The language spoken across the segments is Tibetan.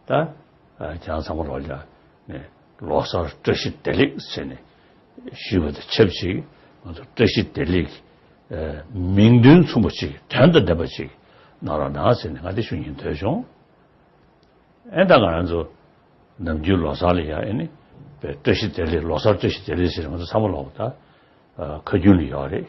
ད་བྱང་ཚང་མ་རོགས་ལྗགས་ནས་ལོ་གསར་བཀྲ་ཤིས་བདེ་ལེགས་ཟེར་ནས་ཞུས་པ་དང་ཆབས་ཅིག་ང་ཚོ་བཀྲ་ཤིས་བདེ་ལེགས་མིང་དོན་མཚུངས་པ་ཅིག་དོན་དང་ལྡན་པ་ཅིག་གནང་རོགས་གནང་ཟེར་ནས་ང་དེ་ཞུ་ཉན་འདོད་བྱུང། ཨེ་ད་ང་རང་ཚོ་ནམ་རྒྱུན་ལོ་གསར་ལ་ཡང་ཨེ་ནི་བཀྲ་ཤིས་བདེ་ལེགས་ལོ་གསར་བཀྲ་ཤིས་བདེ་ལེགས་ཟེར་ནས་ང་ཚོ་ཚང་མ་ལོག་པ་ད་ཁ་རྒྱུན་ལ་ཡོད་རེད།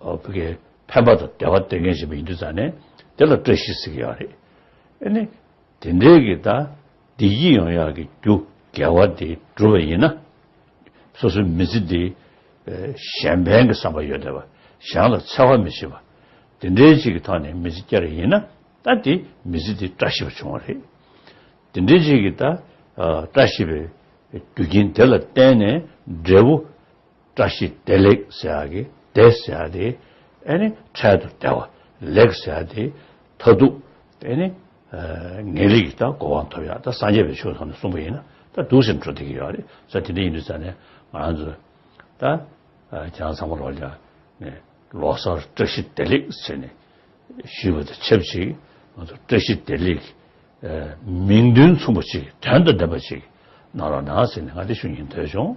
བོད་སྐད་ཕན་པ་དང་བདེ་བ་སྟེར་མཁན་ཞིག་མིན་དུས་ཙང་ནས་དེ་ལ་བཀྲ་ཤིས་ཟེར་གྱི་ཡོད་རེད། ཨེ་ནས། དེ་འདྲའི་གི་ད་བདེ་སྐྱིད་ཡོང་ཡག་གི་རྒྱུ་འགལ་བ་དེ་སྒྲུབ་པ་ཡིན་ན། སོ་སོའི་མི་ཚེ་འདི་གཞན་ཕན་གི་བསམ་པ་ཡོད་བསྡད་པ་གཞན་ལ་འཚེ་བ་མི་བྱེད་པ། དེ་འདྲའི་ཅིག་གི་ཐོག་ནས་མི་ཚེ་བསྐྱལ་རེ་ཡིན་ན་ད་དེ་མི་ཚེ་དེ་བཀྲ་ཤིས་པ་བྱུང་བ་རེད། དེ་འདྲའི་ཅིག་གི་ད་བཀྲ་ཤིས་པའི་རྒྱུ་རྐྱེན་དེ་ལ་བརྟེན་ནས་འབྲས་བུ། བཀྲ་ཤིས་བདེ་ལེགས་ཟེར་ཡག་གི་བདེ་ཟེར་ཡག་དེ་ཨེ་ནི་འཕྲལ་དུ་བདེ་བ་ལེགས་ཟེར་ཡག་དེ་མཐའ་སྡུག་ཨེ་ནི་ངེས་ལེགས་ཀྱི་ད་གོ་བ་ཐོབ་ཡག་ད་སངས་རྒྱས་པའི་ཆོས་ཐོག་ནས་གསུང་པ་ཡིན་ན་ད་སྡུག་ཟེར་འགྲོ་བསྡད་ཀྱི་ཡོད་རེད་ས་དེ་འདྲ་ཡིན་དུས་ས་ནས་ང་རང་ཚོ་ད་ཁྱེད་རང་ཚང་མ་ལོག་ཀྱང་ནས་ལོག་སར་བཀྲ་ཤིས་བདེ་ལེགས་ཟེར་ནས་ཞུས་པ་དང་ཆབས་ཅིག་ང་ཚོ་བཀྲ་ཤིས་བདེ་ལེགས་མིག་མདུན་མཚུངས་པ་ཅིག་དོན་དང་ལྡན་པ་ཅིག་གནང་རོགས་གནང་ཟེར་ནས་ང་དེ་ཞུ་ཉན་ཐོས་བྱུང།